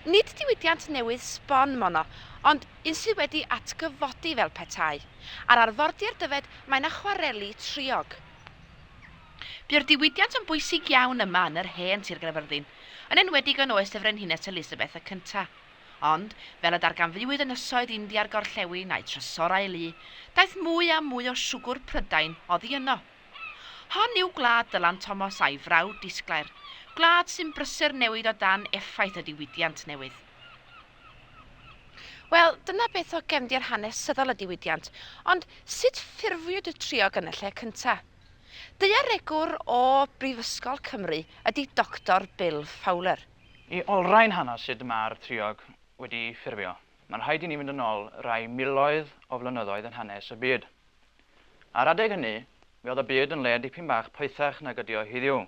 Nid diwydiant newydd sbon mono, ond un sydd wedi atgyfodi fel petai. Ar arfordir Dyfed mae 'na chwareli triog. Bu'r diwydiant yn bwysig iawn yma yn yr hen Sir Gaerfyrddin, yn enwedig yn oes y Frenhines Elisabeth y Cynta'. Ond, fel y darganfuwyd ynysoedd India'r Gorllewin a'u trysorau lu, daeth mwy a mwy o siwgwr Prydain oddi yno. Hon yw gwlad Dylan Thomas a'i frawd disglair, gwlad sy'n brysur newid o dan effaith y diwydiant newydd. Wel, dyna beth o gefndir hanesyddol y diwydiant, ond sut ffurfiwyd y triog yn y lle cynta? Daearegwr o Brifysgol Cymru ydy Doctor Bill Fowler. I olrhain hanes sut mae'r triog wedi ffurfio, mae'n rhaid i ni fynd yn ol rai miloedd o flynyddoedd yn hanes y byd. Ar adeg hynny, mi oedd y byd yn le dipyn bach poethach nag ydi o heddiw.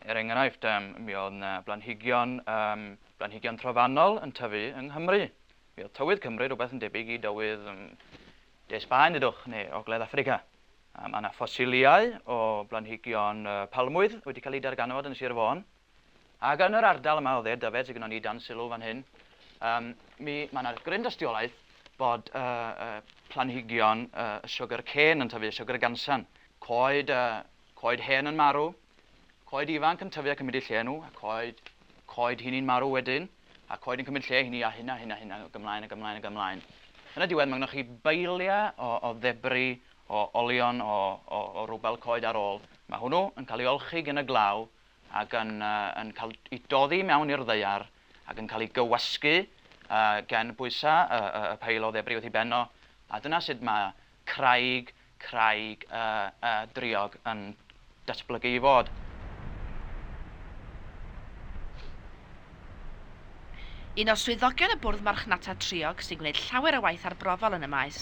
Er enghraifft, yym, mi oedd 'na blanhigion, yym, blanhigion trofannol yn tyfu yng Nghymru. Mi oedd tywydd Cymru rhywbeth yn debyg i dywydd, yym, De Sbaen, ddudwch, neu Ogledd Affrica. Mae 'na ffosiliau o blanhigion palmwydd wedi cael eu darganfod yn Sir Fôn. Ac yn yr ardal yma o dde Dyfed sydd gynnon ni dan sylw fan hyn, um, mi, mae yna gryn dystiolaeth bod uh, uh, planhigion uh, sugar cane yn tyfu, sugar gansan. Coed, uh, coed hen yn marw, coed ifanc yn tyfu ac yn mynd i lle nhw, a coed, coed hini'n marw wedyn, a coed yn cymryd lle hini a hynna, hynna, hynna, ac ymlaen, ac ymlaen, ac ymlaen. Yn y diwedd, mae gennych chi beiliau o, o ddebri, o olion, o, o, o rwbel coed ar ôl. Mae hwnnw yn cael ei olchi gen y glaw, ac yn yn cael eu doddi mewn i'r ddaear ac yn cael eu gywasgu gan bwysau y y y peil o ddebri wrth ei ben o, a dyna sut mae craig craig y y driog yn datblygu i fod. Un o swyddogion y Bwrdd Marchnata Triog sy'n gwneud llawer o waith arbrofol yn y maes,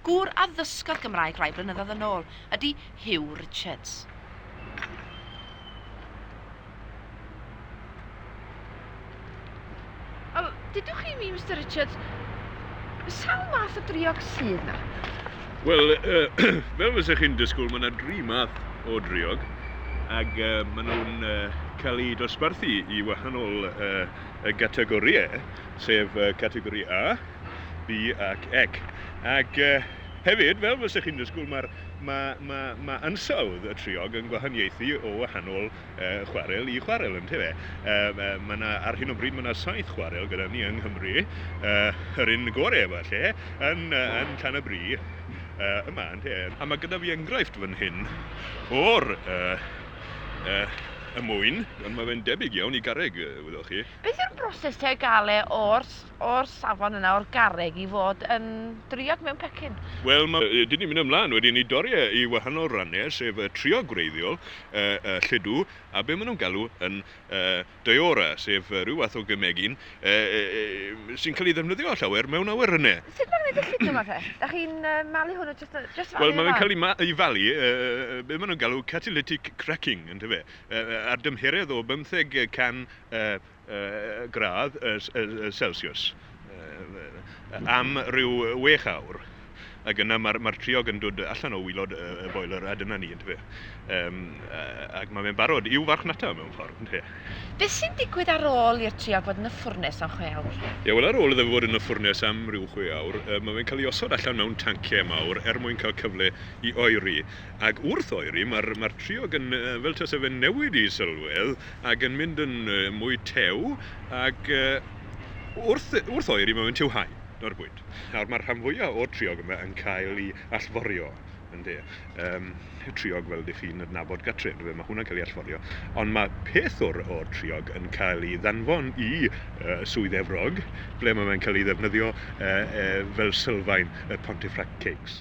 gŵr a ddysgodd Gymraeg rai blynyddoedd yn ôl, ydy Huw Richards. Wel, dudwch chi i mi, Mister Richards, sawl math o driog sydd 'na? Wel, fel fysa chi'n disgwyl, mae yna dri math o driog ac maen nhw'n cael eu dosbarthu i wahanol gategorïau, sef categori A, B ac Ec. Ac hefyd, fel fysa chi'n disgwyl, mae ansawdd y triog yn gwahaniaethu o wahanol uh, chwarel i chwarel, yn tefe. Uh, mae yna, ar hyn o bryd, mae yna saith chwarel gyda ni yng Nghymru, uh, yr un gore falle, yn, uh, yn Llan y Bri, uh, yma, yn te. A mae gyda fi enghraifft fan hyn o'r uh, uh, y mwyn, ond mae fe'n debyg iawn i garreg, wyddoch chi. Beth yw'r broses te o gael e o'r o'r safon yna o'r garreg i fod yn driog mewn pecyn. Wel, mae e 'di mynd ymlaen wedyn i dorri e i wahanol rannau, sef y triog gwreiddiol, y lludw, a be maen nhw'n galw yn Daiora, sef rhyw fath o gemegyn sy'n cael ei ddefnyddio llawer mewn awyrennau. Sut mae'n gwneud y lludw 'ma te? Da chi'n malu hwnnw jyst yn jyst falu fe lan? Wel, mae fe'n cael ei falu, be maen nhw'n galw catalytic cracking, yndyfe, ar dymheredd o bymtheg can gradd celsiws am ryw wech awr ac yna mae'r triog yn dod allan o wylod y boiler a dyna ni yn dyfe. Yym ac mae fe'n barod i'w farchnata mewn ffordd ynte. Beth sy'n digwydd ar ôl i'r triog fod yn y ffwrnes am chwe awr? Ie wel ar ôl iddo fe fod yn y ffwrnes am ryw chwe awr mae fe'n cael ei osod allan mewn tanciau mawr er mwyn cael cyfle i oeri ac wrth oeri mae'r triog yn fel tase fe'n newid i sylwedd ac yn mynd yn mwy tew ac wrth wrth oeri mae'n tiw hau nawr bwyd. Nawr mae'r rhan fwyaf o'r triog yma yn cael ei allforio ynde yym triog fel dych chi'n adnabod gatre yndyfe mae hwnna'n cael ei allforio ond mae peth o'r o'r triog yn cael ei ddanfon i uh, Swydd Efrog ble mae'n cael ei ddefnyddio uh, uh, fel sylfaen y Pontefract Cakes.